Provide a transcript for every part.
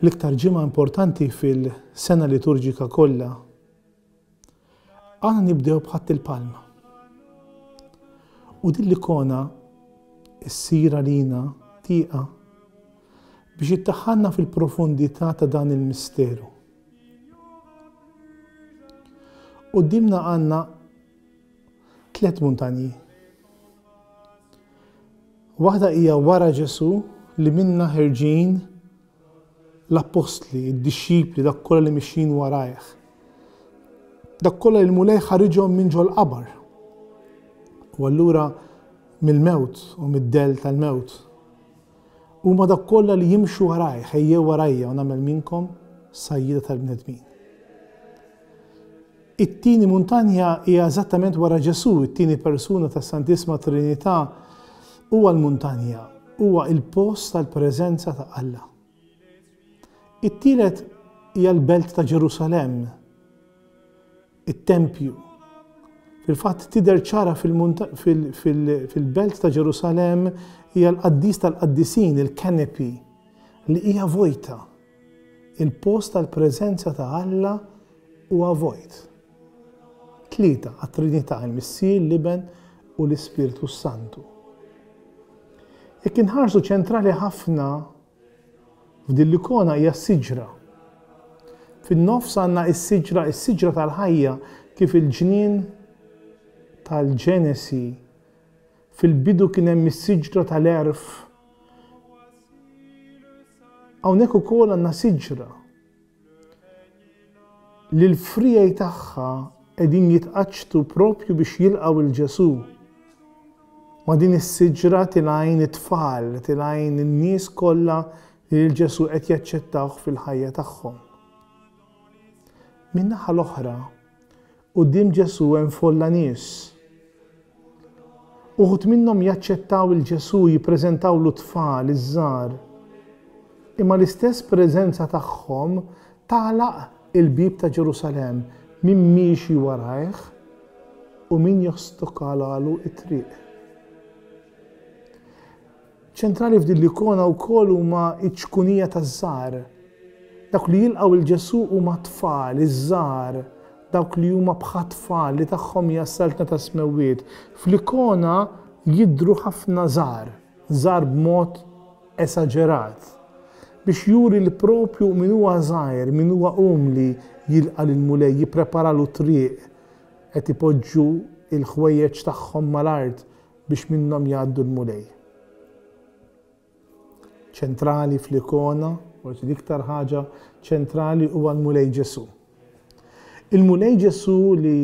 L-iktar ġimgħa importanti fil-sena liturġika kollha. Għana nibdew b'ħadd il-palma. U din l-ikona ssir għalina tieqa biex ittaħħalna fil-profondità ta' dan il-misteru. Qudiemna għandna Tliet muntanji. Waħda hija wara Ġesù li minnha ħerġin l-appostli, id-dixxipli, dak kollha li mixjin warajh. Dak kollha li l-Mulej ħariġhom minn ġol-qabar. U allura mill-mewt u mid-dell tal-mewt. Huma dak kollha li jimxu warajh, ejjew warajja u nagħmel minnkom sajjieda tal-bnedmin. It-tieni muntanja hija eżattament wara Ġesù, it-tieni persuna tas-Santissima Trinità huwa l-muntanja, huwa l-post tal-preżenza ta' Alla. It-tielet hija l-belt ta' Ġerusalemm, it-tempju. Fil-fatt tidher ċara fil-belt ta' Ġerusalemm hija l-qaddis tal-qaddisin, il-canopy, li hija vojta. Il-post tal-preżenza ta' Alla huwa vojt. Tlieta għat-Trinità, il-Missier, l-Iben, u l-Ispirtu s-Santu. Jekk inħarsu ċentrali ħafna f'din l-ikona hija s-siġra. Fin-nofs għandna s-siġra, is-siġra tal-ħajja kif il-ġnien tal-Ġenesi Fil-bidu kien hemm is-siġra tal-għerf. Hawnhekk ukoll għandna siġra li l-friegħi tagħha qegħdin jitqaċċtu propju biex jilqgħu lil Ġesù. Ma' din is-siġra tilgħin it-tfal, tilgħin in-nies kollha li lil Ġesù qed jaċċettawh fil-ħajja tagħhom. Min-naħa l-oħra, Quddiem Ġesù hemm folla nies. Uħud minnhom jaċċettaw 'il Ġesù, jippreżentawlu t-tfal iż-żgħar. Imma l-istess preżenza tagħhom tagħlaq il-bieb ta' Ġerusalemm, min miexi warajh u min jostokalalu t-triq. Ċentrali f'din l-ikona wkoll huma ċ-ċkunija taż-żgħar. Dawk li jilqgħu 'l Ġesù huma t-tfal, iż-żgħar, dawk li huma bħat-tfal li tagħhom hija s-Saltna tas-Smewwiet. Fl-ikona jidhru ħafna żgħar, żgħar b'mod esaġerat, biex juri li proprju min huwa żgħir, min huwa umli jilqa' lill-Mulej, jippreparalu t-triq, qed ipoġġu l-ħwejjeġ tagħhom mal-art biex minnhom jgħaddu l-Mulej. Ċentrali fl-ikona, forsi l-iktar ħaġa ċentrali huwa l-Mulej Ġesù. Il-Mulej Ġesù li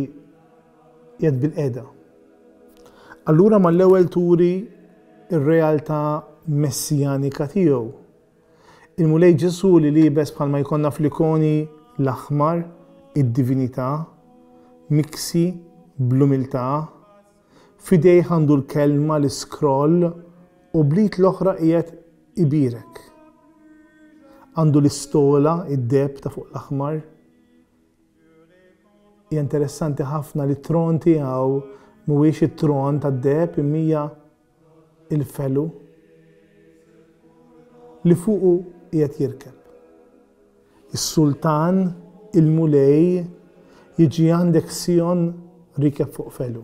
jed bil-qeda. Allura mal-ewwel turi ir-realtà messijanika tiegħu. Il-Mulej Ġesù li libes bħalma jkollna fl-ikoni l-aħmar, id-divinità, miksi, bl-umiltà, F'idejh għandu l-kelma, l-iskroll u bl-id l-oħra qiegħed ibierek. Għandu l-istola, id-deheb ta' fuq l-aħmar. Hija interessanti ħafna li t-tron tiegħu mhuwiex it-tron tad-deheb imma hija il-felu li fuqu qiegħed jirkeb. Is-Sultan, il-Mulej, jiġi għandek Sion rikeb fuq felu.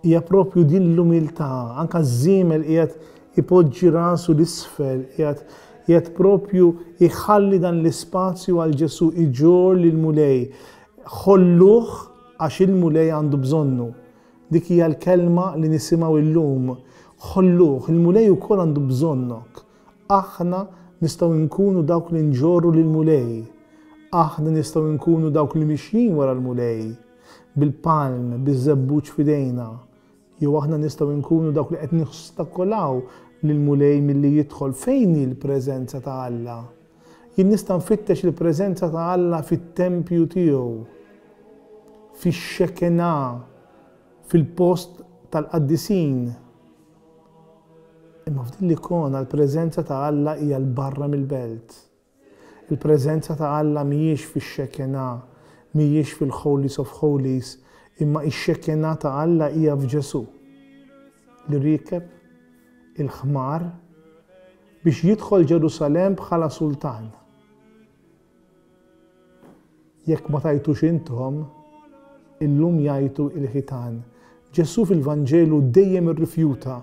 Hija propju din l-umiltà, anka ż-żiemel qiegħed ipoġġi rasu l-isfel, qiegħed qiegħed propju iħalli dan l-ispazju għal Ġesu iġor lill-Mulej. Ħolluh għax il-Mulej għandu bżonnu. Dik hija l-kelma li nisimgħu illum, Ħolluh, il-Mulej ukoll għandu bżonnok. Aħna nistgħu nkunu dawk li nġorru lill-Mulej. Aħna nistgħu nkunu dawk li mixjin wara l-Mulej, bil-palm, biż-żebbuġ f'idejna. Jew aħna nistgħu nkunu dawk li qed nostakolaw lill-Mulej milli jidħol fejn hi l-preżenza ta' Alla. Jien nista' nfittex il-preżenza ta' Alla fit-tempju tiegħu, fix-Shekinah, fil-post tal-qaddisin. Imma f'din l-ikona l-preżenza ta' Alla hija 'l barra mill-belt. Il-preżenza ta' Alla mhijiex fix-Shekinah, mhijiex fil-Holies of Holies, imma x-Shekinah ta' Alla hija f'Ġesù, li riekeb il-ħmar, Biex jidħol Ġerusalemm bħala sultan. Jekk ma tgħajtux intom, illum jgħajtu l-ħitan. Ġesù fil-Vanġelu dejjem irrifjuta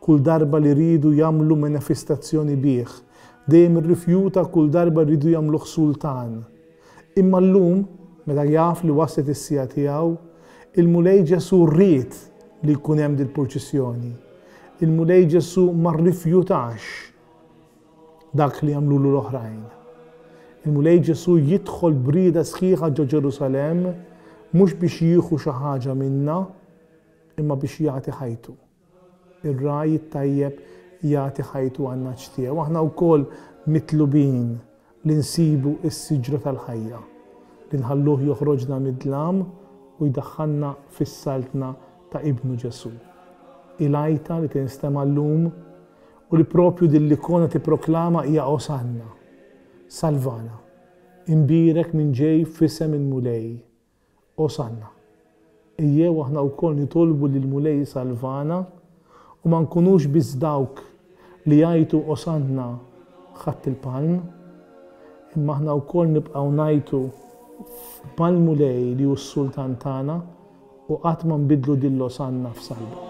kull darba li riedu jagħmlu menefistazzjoni bih. Dejjem irrifjuta kull darba riedu jagħmluh sultan. Imma llum, meta jaf li waslet is-siegħa tiegħu, il-Mulej Ġesù ried li jkun hemm dil-purċissjoni. Il-Mulej Ġesù ma rrifjutax dak li għamlulu l-oħrajn. Il-Mulej Ġesù jidħol brieda sħiħa ġo Ġerusalemm mhux biex jieħu xi ħaġa minna, imma biex jagħti ħajtu. Ir-ragħaj it-tajjeb jagħti ħajtu għan-ngħaġ tiegħu. Aħna wkoll mitlubin li nsibu s-siġra tal-ħajja, li nħalluh joħroġna mid-dlam u jdaħħalna fis-Saltna ta' Ibnu Ġesù. Hi l-għajta li tinstema' llum u li proprju din l-ikona tipproklama hija Osanna! Salvana! Imbierek min ġej f'isem il-Mulej! Osanna. Ejjew aħna wkoll nitolbu lill-Mulej isalvana u ma nkunux biss dawk li jgħajtu Osanna Ħadd il-Palm, imma aħna wkoll nibqgħu ngħajtu mal-Mulej li hu s-Sultan tagħna u qatt ma nbiddlu din l-Osanna f'salba.